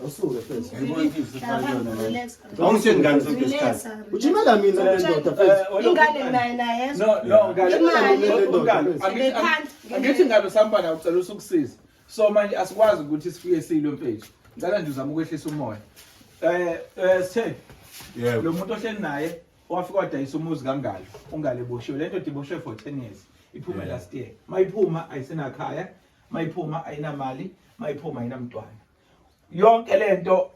Awusuke first. Awungitsheli ngani sonke isikhathi. Ujimela mina le ndoda first. Ingane naye naye. No, no, ngale. Ngale. Angithi ngabe sambala ucela usukusiza. So manje asikwazi ukuthi sifike silo mfethu. Ngicela nje uzama ukwehlisa umoya. Eh, eh sithe. Yebo. Lo muntu ohleli naye wafika wadayisa umuzi kangalo. Ungale boshiwe. Le ndoda iboshiwe for 10 years. Iphuma last year. Mayiphuma ayisenakhaya. mayiphuma ayinamali mayiphuma ayinamntwana yonke lento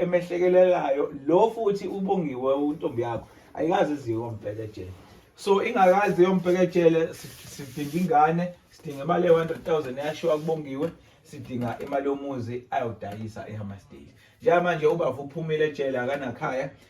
emehlekelelayo lo futhi ubongiwe untombi yakho ayikazi iziwe ombhekejele so ingakazi yombhekejele sidinga ingane sidinga imali ye-100,000 eyashiwa kubongiwe sidinga imali yomuzi ayodayisa ehamasteli njengamanje ubaba uphumile ejele akanakhaya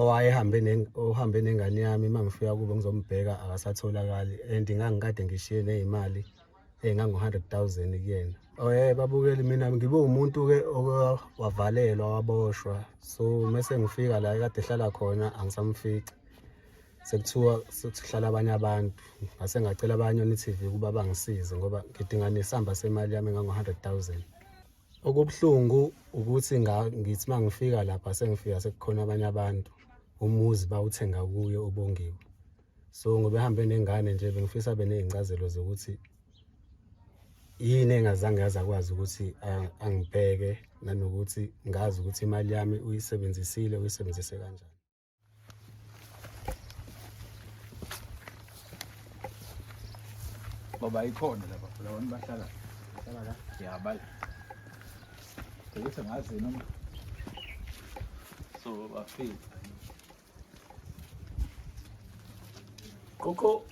owayehambe ohambe nengane yami uma ngifika kubo ngizombheka akasatholakali and ngangikade ngishiye neyimali engango-hundred thousand kuyena oye oh, babukeli mina ngibe umuntu-ke wavalelwa waboshwa so mese ngifika la kade ehlala khona angisamfici sekuthiwa sekuhlala abanye abantu ngase ngacela abanye one-tv ukuba bangisize ngoba ngidinga nesamba semali yami engango-hundred thousand Okubuhlungu ukuthi ngithi uma ngifika lapha sengifika sekukhona abanye abantu umuzi bawuthenga kuye ubongiwe so ngoba ehambe nengane nje bengifisa beney'ncazelo zokuthi yini engazange yaze akwazi ukuthi angibheke nanokuthi ngazi ukuthi imali yami uyisebenzisile uyisebenzise kanjani Baba ikhona lapha lawa bahlala bahlala la yabala ukuthi ngazi noma so bafika Coco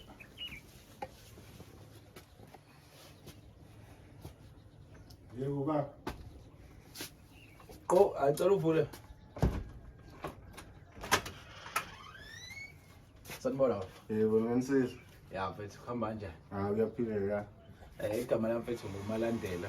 Yebo baba. Qo acela uvule. Sanibona baba. Yebo ngensizwa. Ya mfethu kuhamba kanjani? Ah uyaphila ya. Eh igama lami mfethu nguMalandela.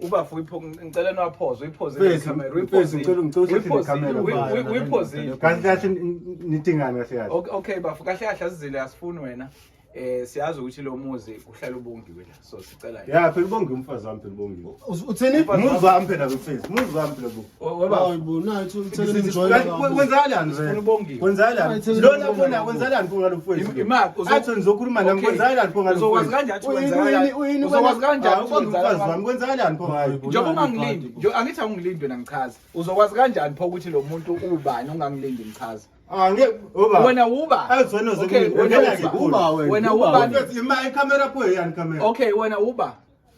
ubafo ngicela niwaphoze uyiphozile kahle kahle nidingani kahle kahle okay bafo kahle kahle asizile asifuni wena eh siyazi ukuthi lo muzi kuhlala ubongiwe la so sicela ya phela ubongiwe umfazi wami phela ubongiwe uthini muzi wami phela mfethu muzi wami phela njengoba ungangilindi angithi awungilindi wena ngichaza uzokwazi kanjani pho ukuthi lo muntu ubani ongangilindi ngichaza Ah, wena uba wena uba okay wena uba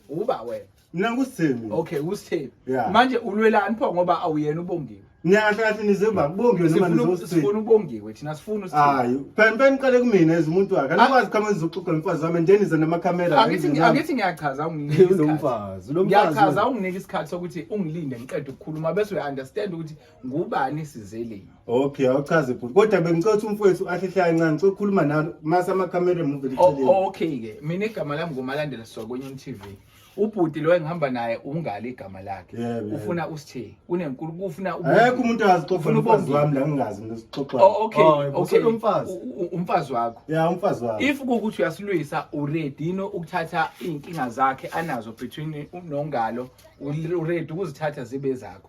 uba wena mina ngusithembi okay usithembi yeah. manje ulwelani pho ngoba awuyena ubongiwe niyakahle kahle nizemba kubongiwe noma nizosifuna ubongiwe thina sifuna usithembi hayi phela phela niqale kumina as umuntu wakhe anikwazi kama nizoxoxa nomfazi wami then nize namakamera angithi angithi ngiyachaza unginike isikhathi ngiyachaza unginike isikhathi sokuthi ungilinde ngiqede ukukhuluma bese uya understand ukuthi ngubani sizeleni okay awuchaze bhuti kodwa bengicela ukuthi umfowethu ahlehle kancane ngicela ukukhuluma nawe mase amakamera emuva oh, eceleni okay ke mina igama lami ngumalandela sokwenye tv ubhuti lo engihamba naye ungali igama lakhe Yeah, yeah. ufuna usithe unenkulu kufuna Ayekho umuntu azixoxa Ufuna umfazi ubonge. wami la ngingazi mina sixoxa. Oh, okay Oh, yebo, okay useyomfazi. U- u- umfazi wakho Ya umfazi wami. if kukuthi uyasilwisa uready yini ukuthatha izinkinga zakhe anazo between nongalo uready ukuzithatha zibe zakho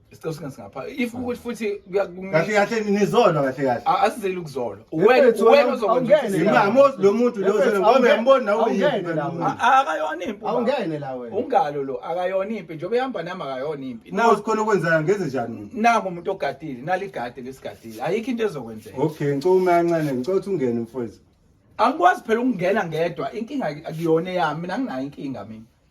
isicelo singa singapha if ukuthi futhi kahle kahle nizolwa kahle kahle asizeli ukuzolwa wena wena uzokwenza imama lo muntu lo ngoba uyambona nawe uyini akayona impi awungene la wena ungalo lo akayona impi njengoba ehamba nami akayona impi nawe sikhona okwenzayo ngenze njani nako umuntu ogadile naligade lesigadile ayikho into ezokwenzeka okay ngicela uma kancane ngicela ukuthi ungene mfowethu angikwazi phela ukungena ngedwa inkinga akuyona yami mina nginayo inkinga mina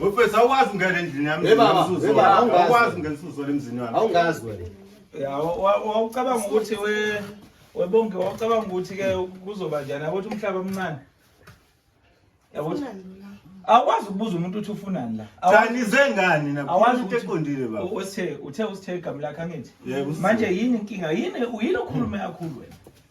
Wefethu awukwazi ungena endlini yami. Hey baba, Mzuzu. hey baba, awungazi. Awukwazi ungena usuzo emzini wami. Awungazi wena. Ya, wa- wa- wawucabanga ukuthi we webonke wawucabanga ukuthi ke kuzoba njani yakuthi umhlaba omncane yakuthi awukwazi ukubuza umuntu ukuthi ufunani la Awu- Cha nize ngani na? awazi Into ukuthi- eqondile baba. u- uthe uthe usithe igama lakhe angithi Yebo, usithe. manje yini inkinga yini yini okhulume kakhulu wena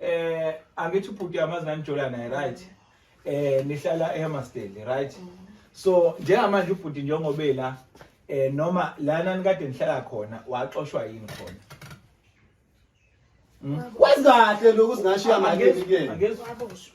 Eh angithi ubhuti yamazi nanijola naye right. Eh nihlala eHammarsdale right. Mm. So njengamanje ubhuti njengoba ela eh noma lana nikade nihlala khona waxoshwa yini khona. Mm. Wazi kahle lokhu singashiya manje kuyena. Angezoshwa.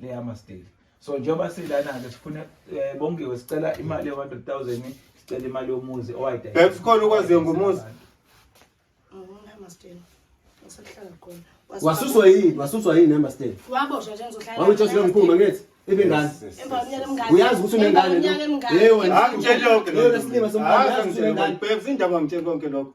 leyama still so njengoba silana-ke sifuna eh, bongiwe sicela imali ye-hundred thousand sicela imali yomuzi owayidakhona ukwaziyo ngomuzi wasuswa yini wasuswa yini emastel wawutshosi lo mkhulu mangithi ibe ngane uyazi ukuthi unengane yewe angitsheli yonke leyo lesilima somntwana uyazi ukuthi unengane bhebs indaba ngitsheli konke lokho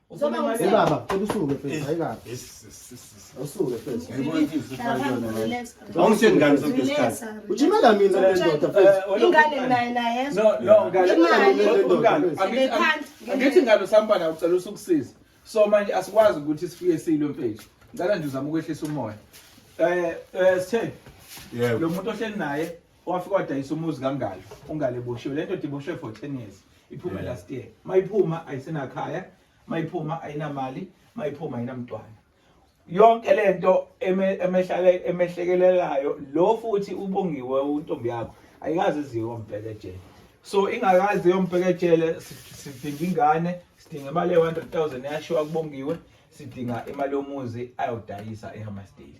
Ubaba, cela usuke mfethu, hayi kabi. Usuke mfethu. Awungitsheli ngani sonke isikhathi. Ujimela mina le ndoda mfethu. Ingane naye naye. No, no, ngane. Ngane. Angithi ingane usampana ucela usukusiza. So manje asikwazi ukuthi sifike silo mfethu. Ngicela nje uzama ukwehlisa umoya. Eh, eh sithe. Yebo. Lo muntu ohleli naye wafika wadayisa umuzi kangalo ungale boshiwe le ndoda iboshwe for 10 years iphume yeah. last year mayiphuma ayisenakhaya mayiphuma ayinamali mayiphuma ayinamntwana yonke le nto emehlekelelayo lo futhi ubongiwe untombi yakho ayikazi iziwe ombhekejele so ingakazi yombhekejele sidinga ingane sidinga imali ye-100 000 eyashiwa kubongiwe sidinga imali yomuzi ayodayisa ehamasteli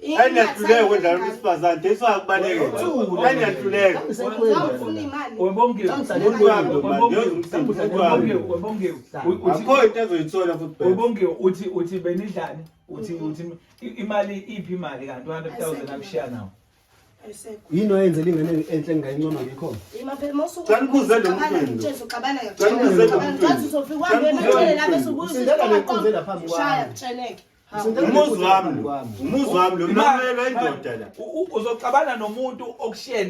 Enyahluleke kwendlala umsifazane Jesu akubaleke enyahluleke akho into ezoyithola futhi webongiwe uthi uthi benidlani uthi uthi imali iphi imali kanti 100000 akushiya nawo yini oyenze lingane enhle ngingayincoma ngikho Umuzi wami lo. Umuzi wami lo. Ngimelwe indoda la. Uzoxabana nomuntu okushiye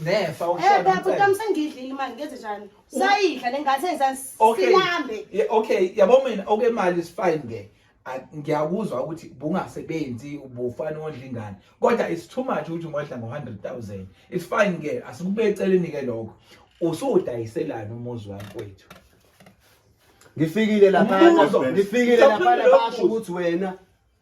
nefa okushiye. Eh baba utam sengidlile imali ngenze njani? Sayidla lengathi engisansilambe. Okay, yabo mina okay imali is fine ke. ngiyakuzwa ukuthi bungasebenzi ubufana ondla ingane kodwa it's too much ukuthi ungodla ngo-100000 it's fine ke asikube eceleni ke lokho usuwudayiselani umuzi wami kwethu ngifikile laphana Umbuzo. ngifikile Ngicela laphana uphendule basho umbuzo. ukuthi wena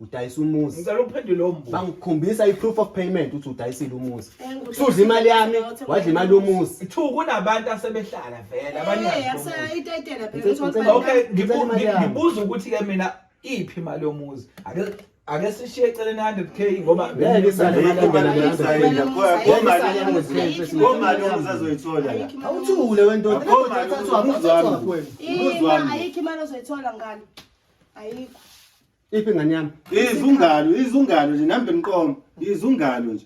udayisa umuzi ngicela uphendule lowo mbuzo bangikhombisa i-proof of payment ukuthi udayisile umuzi sudla imali yami wadla imali yomuzi two kunabantu asebehlala vele abaningi itayitela Ngicela- ngicela- okay Ngicela ngibu- imali ngi- yami. ngibuza ukuthi-ke mina iphi imali yomuzi Ake- ake sishiye eceleni 100k ngoba ngeke isale ngomani ozazoyithola la awuthule wendoda uthathwa umuzwami umuzwami ayikho imali ozoyithola ngani ayikho iphi ngani yami izungalo izungalo nje nambe mqomo izungalo nje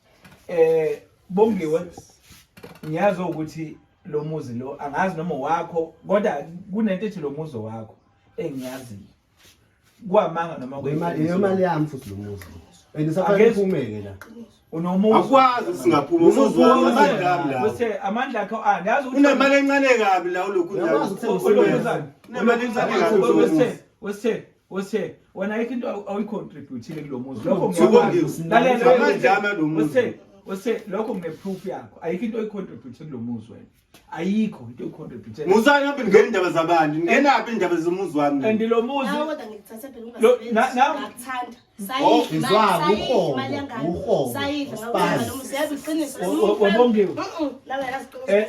eh bongiwe ngiyazi ukuthi lo muzi lo angazi noma wakho kodwa kunento ethi lo muzi wakho engiyaziyo kwamanga noma kwemali yemali yami futhi lo muzi endisafanele iphumeke la unomuzi akwazi singaphuma umuzi wami amandla la bese amandla akho ani yazi ukuthi unemali encane kabi la ulokhu undawo unemali encane kabi wesithe wesithe Ose wena ayikho into awuyicontributile kulo muzi lokho ngiyakwazi ose lokho ngineproof yakho ayikho into oyicontribute kulo muzi wena ayikho into oyicontribute musani aphi ngene indaba zabani ngena aphi indaba zomuzi wami and lo muzi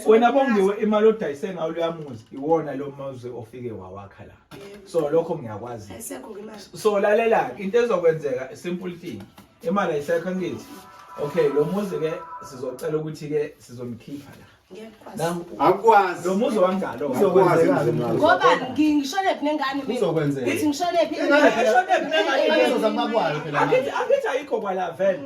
wena bongiwe imali odayise ngawo loyamuzi iwona lo muzi ofike wawakha la so lokho ngiyakwazi so lalela into ezokwenzeka simple thing imali ayisekho ngithi okay lo muzi ke sizocela ukuthi ke sizomkhipha la akwazi lo muzi wangalo ngoba ngisholephi nengane ngithi ngisholephi ngithi ayikho kwala vele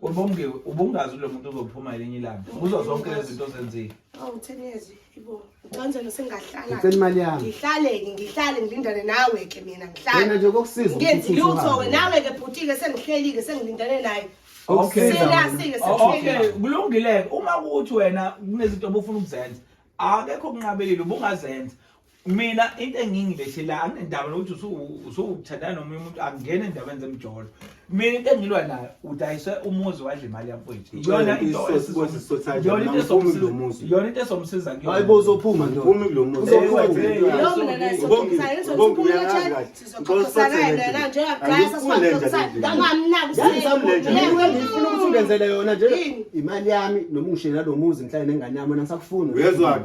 Ubongiwe ubungazi lo muntu uzophuma elinye ilanga kuzo zonke lezi zinto zenzile. Awu 10 years ibo. Ucanzelo sengahlala. Ngicela imali yami. Ngihlale ngihlale ngilindane nawe ke mina ngihlale. Wena nje kokusiza. Ngenzi lutho ke nawe ke bhutike sengihlelike sengilindane naye. Okay. Siyasike sekuhlelike. Okay, kulungile uma ukuthi wena kunezinto obufuna ukuzenza. Akekho kunqabelile ubungazenza. mina into engingilehle la anginendaba nokuthi usuwuthandana nomunye umuntu angingena endabeni zemjolo mina into engilwa nayo udayise umuzi wadla imali yamfowethu iyona into iyona into esomsiza kuyo hayi bozophuma nje phumi kulo muzi ngenzele yona nje imali yami noma ungishela lo muzi ngihlale nengane yami ngisakufuni uyezwani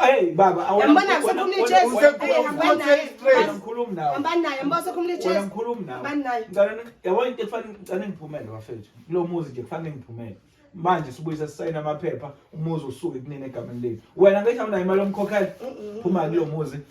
Hey baba, awuyambona usekhuluma ichest. Uyakhuluma nawe. Hambani naye, yambona usekhuluma ichest. Uyakhuluma nawe. Hambani naye. Ngicela yabona into efanele ngicela ngiphumele bafethu. Kulo muzi nje kufanele ngiphumele. Manje sibuyisa sisayina amaphepha, umuzi usuke kunini egameni lethu. Wena ngisho unayo imali omkhokhela. Phuma kulo muzi.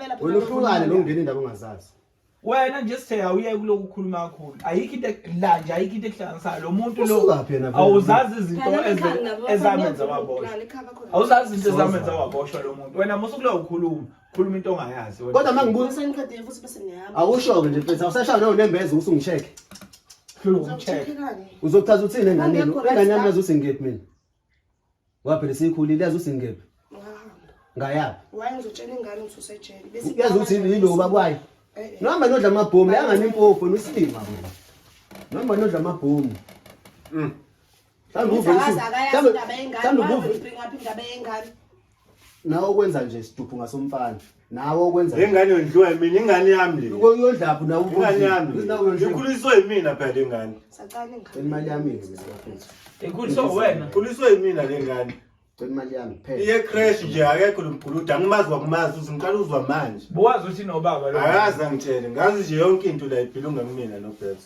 Phela wena uhlukane nokungena indaba ongazazi wena nje sithe awuyeke kuloku khuluma kakhulu ayikho into ek- la nje ayikho into ekuhlanganisayo lo muntu lo usukaphi yena vele? awuzazi izinto Phela eze- ikhanda nabo bafana ezamenza niyavuma waboshwa ukuqala, ikhaya bakho nabo. awuzazi izinto Soza. ezamenza waboshwa lo muntu wena musukuloyo ukhuluma khuluma into ongayazi wena. kodwa uma ngibuza Ngibuyisa ngiqedile futhi bese ngiyahamba. awusho-ke nje mfethu awusashaya nawo nembeza usungi-check Hlula ukumcheck. Uzokucheck-ekani? uzokuchaza uthini enganeni Ngekho engane yami right yazi ukuthi ngikephi mina Ngoba phela sikhulile yazi usingephi. Ngayaphi? Waye ngizotshela ingane ukuthi usejele. Bese yazi ukuthi yilo ubaba wayo. Eh, eh. Noma nodla amabhomu yangani impofu nosilima wena. Noma nodla amabhomu. Mm. Thanda uvuka. Thanda uvuka. Nawe ukwenza nje siduphu ngasomfana. nawe okwenza ingane yondliwa yimina ingane yami le uyondlaphi nawe ingane yami ikhuliswe yimina phela le ngane sacala ingane imali yami ngizafutha ikhuliswe wena ikhuliswe yimina le ngane imali yami phela iye crash nje akekho lomguluda angimazi wakumazi uthi ngiqala uzwa manje buwazi uthi nobaba lo akazi angithele ngazi nje yonke into la iphilunga kumina no Beths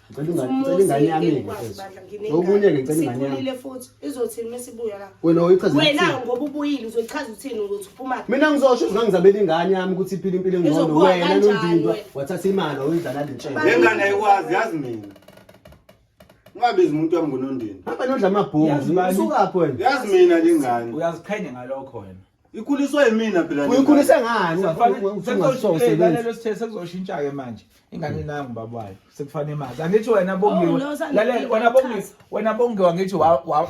Ngicela ingane yami okunye ke ngicela ingane yami futhi izothini mesibuya la wena uyichaza wena ngoba ubuyile uzochaza uthini ukuthi uphuma mina ngizosho ukuthi ngizabela ingane yami ukuthi iphile impilo engcono wena nondindwa wathatha imali oyidlala lentshela lengane ayikwazi yazi mina ungabizi umuntu wami ngonondini hamba nodla amabhonzi imali usukaphi wena yazi mina lengane uyaziqhenya ngalokho wena ikhuliswa yimina phela uyikhulise ngani ungafanele sithe sekuzoshintsha ke manje ingane nangu baba wayo sekufanele imazi angithi wena oh, bongiwe lalela wena bongiwe wena bongiwe ngithi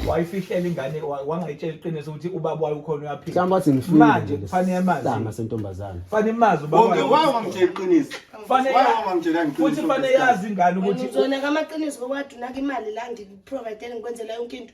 wayifihlela ingane wangayitshela iqiniso ukuthi ubaba wayo ukhona uyaphila mhlawumbe wathi ngifile manje kufanele imazi sama sentombazana kufanele imazi ubaba wayo wayo ngamtshela iqiniso kufanele wayo ngamtshela iqiniso futhi kufanele yazi ingane ukuthi uzona kamaqiniso kodwa unaka imali la ngikuprovidele ngikwenzela yonke into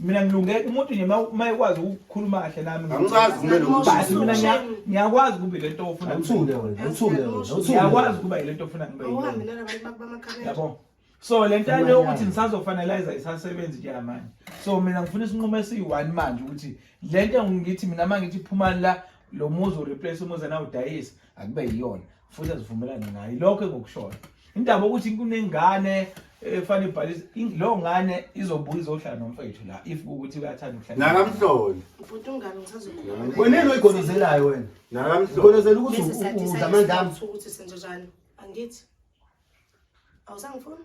mina ngilunge umuntu nje uma ekwazi ukukhuluma kahle nami angicazi kumele basi mina ngiya- ngiyakwazi kube le nto ofuna awuthule wena awuthule wena awuthule ngiyakwazi kuba yile nto ofuna ngibe yiyo. awuhambelana abantu bakho bamakhabela yabo so le nto yale yokuthi ngisazofaneliza isasebenzi nje manje so mina ngifuna isinqumo esiyi-one manje ukuthi le nto ngithi mina uma ngithi phumani la lo muzi ureplace umuzi nawudayisa akube yiyona futhi azivumelane naye lokho engokushoyo indaba ukuthi kunengane efanele ibhalise leyo ngane izobuya izohlala nomfethu la if ukuthi uyathanda ukuhlala nakamhlole ubhuti ungami ngisazokhuluma wena yini oyigonozelayo wena nakamhlole ugonozela ukuthi udla amandla ukuthi senze njani angithi awusangifuni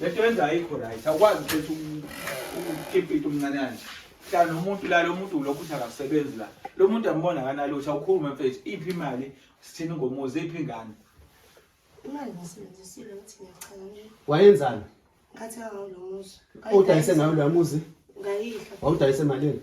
lento yenza ayikho right awukwazi ukhetha ukukipita umncane kanje hlala nomuntu la lo muntu ulokhu uthi akasebenzi la lo muntu ambona akanalutho awukhulume mfethu iphi imali sithini ngomuzi iphi ingane imali ngisebenzisile ukuthi ngiyacela nje wayenzani ngathi ngawo lo muzi udayise ngawo lo muzi ngayidla wawudayise malini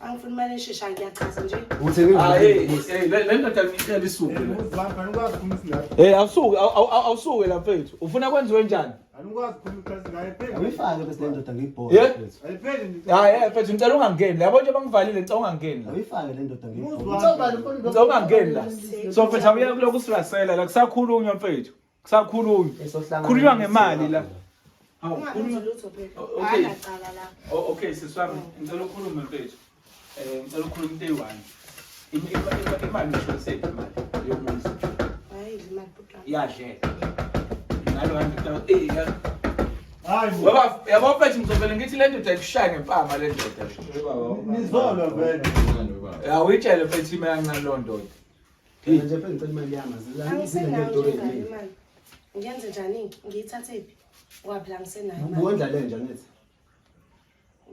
angifuni imali eshesha ngiyachaza nje hey awusuke awusuke la mfethu ufuna kwenziwe njani Awuyifake bese le ndoda ngiyibhole. Yeah. Hayi, eh, mfethu ngicela ungangeni. Yabo nje bangivalile ngicela ungangeni. Awuyifake le ndoda ngiyibhole. Ngicela ungangeni la. So mfethu awuye kulokhu sirasela la kusakhulunywa mfethu. kusakhulunywa khulunywa ngemali la okay siswami ngicela ukhulume mfethu um ngicela ukhulume into eyi-one imali ngishonisephi imali yomuzi yadleka ngalo yabo mfethu ngizovele ngithi le ndoda ikushaya ngempama le ndoda nizolwa vele awuyitshele mfethu imeyancane loo ndoda Phela nje phela ngicela imali yami azilani Angisenayo nje ngane imali. Ngiyenze njani? Ngiyithathe phi? Ngoba phela angisenayo imali. Uwondla le nje angithi.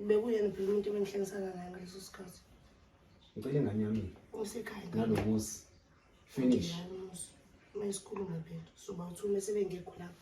Bekuyena phela umuntu ebengihlengisana naye ngaleso sikhathi. Ngicela ingane yami Usekhaya. nalokusi. Finish. Uma isikhuluma phela soba uthi uma sebengekho lapho.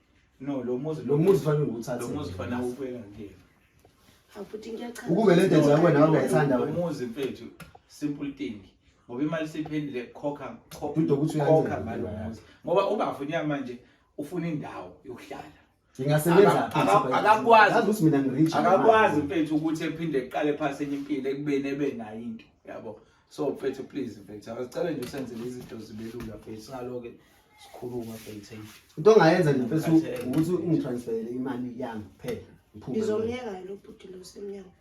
No, lo muzi lo muzi fanele nguthathe. Lo muzi fanele ubuyela ngiyena. Hafuthi ngiyachazwa. Ukube le nto nje wena wawungayithanda wena. Lo muzi mfethu simple thing. Ngoba imali siphendile khokha khokha khokha ngalo muzi. Ngoba ubafo nyamanje ufuna indawo yokuhlala. Ngingasebenza akakwazi ukuthi mina ngirich. Akakwazi mfethu ukuthi ephinde eqale phansi enye impilo ekubeni ebe nayo into. Yabo. so mfethu please mfethu asicale nje usenzele izinto zibelula mfethu singaloke sikhuluma mfethu into ongayenza nje mfethu ukuthi ungitransferele imali yami kuphela ngiphume ngizomyeka lo bhuti lo semnyango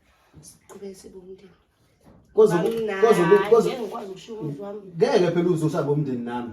siqhubeke sibe umndeni ngeke phela uzosabe umndeni nami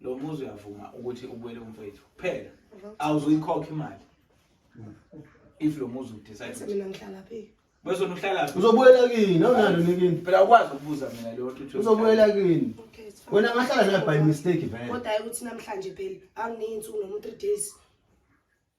lo muzi uyavuma ukuthi ubuyele umfowethu kuphela awuzuyikhokha imali if lo muzi udecide mina ngihlala phi bese uhlala phi uzobuyela kini awunalo nikini phela ukwazi ukubuza mina leyo ukuthi uzobuyela kini wena ngahlala naye by mistake vele kodwa ukuthi namhlanje phela anginenzi unomu 3 days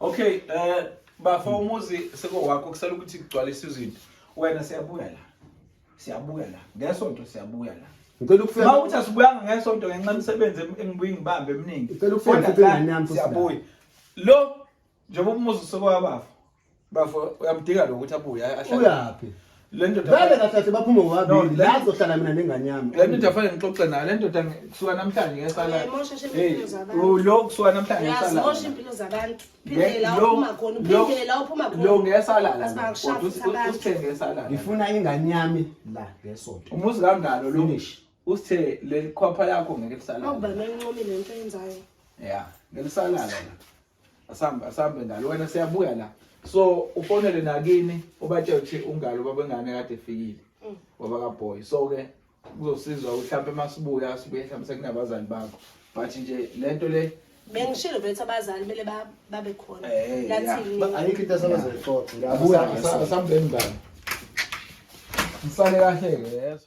Okay, eh uh, bafa umuzi sekowakho kusela ukuthi kugcwalisa izinto. Wena siyabuya la. Siyabuya la. Ngesonto siyabuya la. Ngicela ukufika. Uma uthi asibuyanga ngesonto ngenxa imisebenzi engibuyi ngibambe eminingi. Ngicela ukufika futhi ngane yami futhi. Siyabuya. Lo njengoba umuzi usokowabafa. bafo uyamdinga lo ukuthi abuye ahlale uyaphi le ndoda vele kahlathi baphume ngobabili la zohlala mina nengane yami le ndoda fanele ngixoxe nayo le ndoda kusuka namhlanje ngesala oh, lo kusuka namhlanje ngesala mosha impilo zabantu phindela uphuma khona phindela uphuma khona lo ngesala la kodwa usithenge esala ngifuna ingane yami la ngesonto umuzi kangalo lo usithe le khwapha yakho ngeke lisala awuba nencomi lento yenzayo yeah ngelisalala la asambe asambe ngalo wena siyabuya la so ufonele nakini ubatshela ukuthi ungalo babengane kade efikile mm. baba ka boy so ke kuzosizwa ukuthi mhlawumbe masibuya sibuye mhlawumbe sekunabazali bakho but nje lento le bengishilo bethu abazali kumele babe khona eh, lathini ayikho into asabazoyixoxa abuya asambeni ngalo msale kahle ke yeso